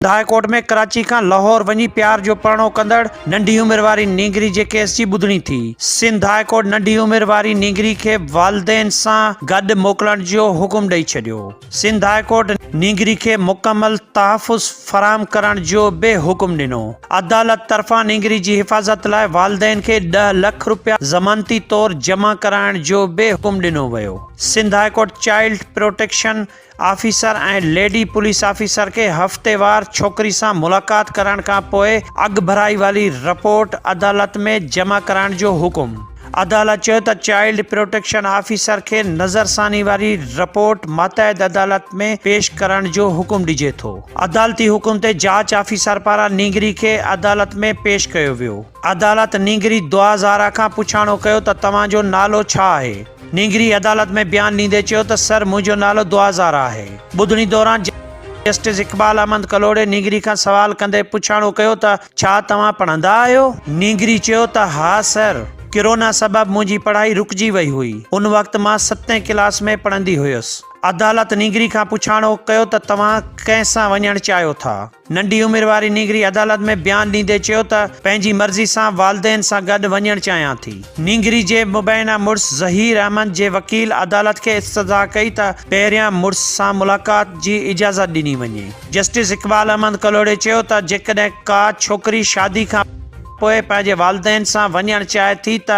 High court ۾ Karachi کان لاهور وڃي پيار جو پرڻو ڪندڙ ننڍي عمر واري نينگري جي ڪيس جي ٻڌڻي ٿي، سنڌ هاء ڪورٽ ننڍي عمر واري نينگري کي والدين سان گڏ موڪلڻ جو حڪم ڏئي ڇڏيو، سنڌ هاء ڪورٽ نينگري کي مڪمل تحفظ فراهم ڪرڻ جو به حڪم ڏنو، عدالت طرفان نينگري جي حفاظت لاء والدين کي ڏهه لک رپيا ضمانتي طور جمع ڪرائڻ جو به حڪم ڏنو ويو، Sindh high court child protection officer ۽ lady police officer کي هفتيوار ڇوڪري سان ملاقات ڪرائڻ کان پوء اڳڀرائي واري رپورٽ عدالت ۾ جمع ڪرائڻ جو حڪم. عدالت چيو ته چائلڊ پروٽيڪشن آفيسر کي نظرثاني واري رپورٽ ماتحت عدالت ۾ پيش ڪرڻ جو حڪم ڏجي ٿو. عدالتي حڪم تي جاچ آفيسر پاران نينگري کي عدالت ۾ پيش ڪيو ويو. عدالت نينگري دعا زهرا کان پڇاڻو ڪيو ته توهان جو نالو ڇا آهي؟ نينگري عدالت ۾ بيان ڏيندي چيو ته سر منهنجو نالو دعازار آهي، ٻڌڻي دوران جسٽس اقبال احمد ڪلهوڙي نينگري کان سوال ڪندي پڇاڻو ڪيو ته ڇا توهان پڙهندا آهيو؟ نينگري چيو ته ها سر، ڪرونا سبب منهنجي پڙهائي رڪجي وئي هئي، ان وقت مان ستين ڪلاس ۾ پڙهندي هيس، عدالت نينگري کان پڇاڻو ڪيو ته توهان ڪنهن سان وڃڻ چاهيو ٿا؟ ننڍي عمر واري نينگري عدالت ۾ بيان ڏيندي چيو ته پنهنجي مرضي سان والدين سان گڏ وڃڻ چاهيان ٿي. نينگري جي مبينا مڙس ظهير احمد جي وڪيل عدالت کي استدعا ڪئي ته پهريان مڙس سان ملاقات جي اجازت ڏني وڃي. جسٽس اقبال احمد ڪلهوڙي چيو ته جيڪڏهن ڪا ڇوڪري شادي کان پوء پنهنجي والدين سان وڃڻ چاهي ٿي ته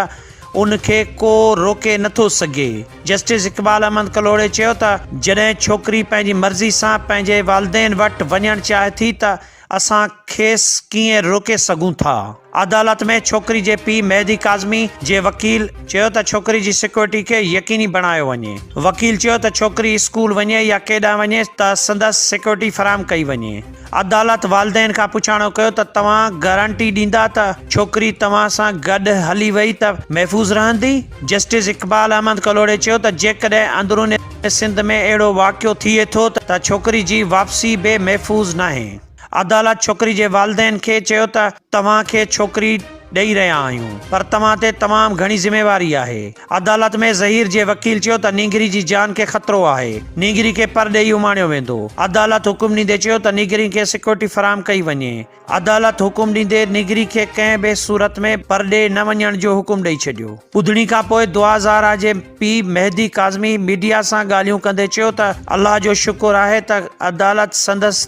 ان کي ڪو روڪي نٿو سگهي. جسٽس اقبال احمد ڪلهوڙي چيو ته جڏهن ڇوڪري پنهنجي مرضي سان پنهنجي والدين وٽ وڃڻ چاهي ٿي ته اسان کيس ڪيئن روڪي سگهون ٿا؟ عدالت ۾ ڇوڪري جي پيء مهدي ڪاظمي جي وڪيل چيو ته ڇوڪري جي سيڪيورٽي کي يقيني بڻايو وڃي، وڪيل چيو ته ڇوڪري اسڪول وڃي يا ڪيڏانهن وڃي ته سندس سيڪيورٽي فراهم ڪئي وڃي. عدالت والدين کان پڇاڻو ڪيو ته توهان گارنٽي ڏيندا ته ڇوڪري توهان سان گڏ هلي وئي ته محفوظ رهندي؟ جسٽس اقبال احمد ڪلهوڙي چيو ته جيڪڏهن اندرون سنڌ ۾ اهڙو واقعو ٿئي ٿو ته ڇوڪري جي واپسي به محفوظ ناهي. عدالت ڇوڪري جي والدين کي چيو ته توهان کي ڇوڪري ڏئي رهيا آهيون پر توهان تي تمام گهڻي ذميواري آهي. عدالت ۾ ظهير جي وڪيل چيو ته نينگري جي جان کي خطرو آهي، نينگري کي پر ڏئي اماڻيو ويندو. عدالت حڪم ڏيندي چيو ته نينگري کي سيڪيورٽي فراهم ڪئي وڃي. عدالت حڪم ڏيندي نينگري کي ڪنهن به صورت ۾ پر ڏي نه وڃڻ جو حڪم ڏئي ڇڏيو. ٻڌڻي کانپوء دعا زهرا جي پيء مهدي ڪاظمي ميڊيا سان ڳالهيون ڪندي چيو ته الله جو شڪر آهي ته عدالت سندس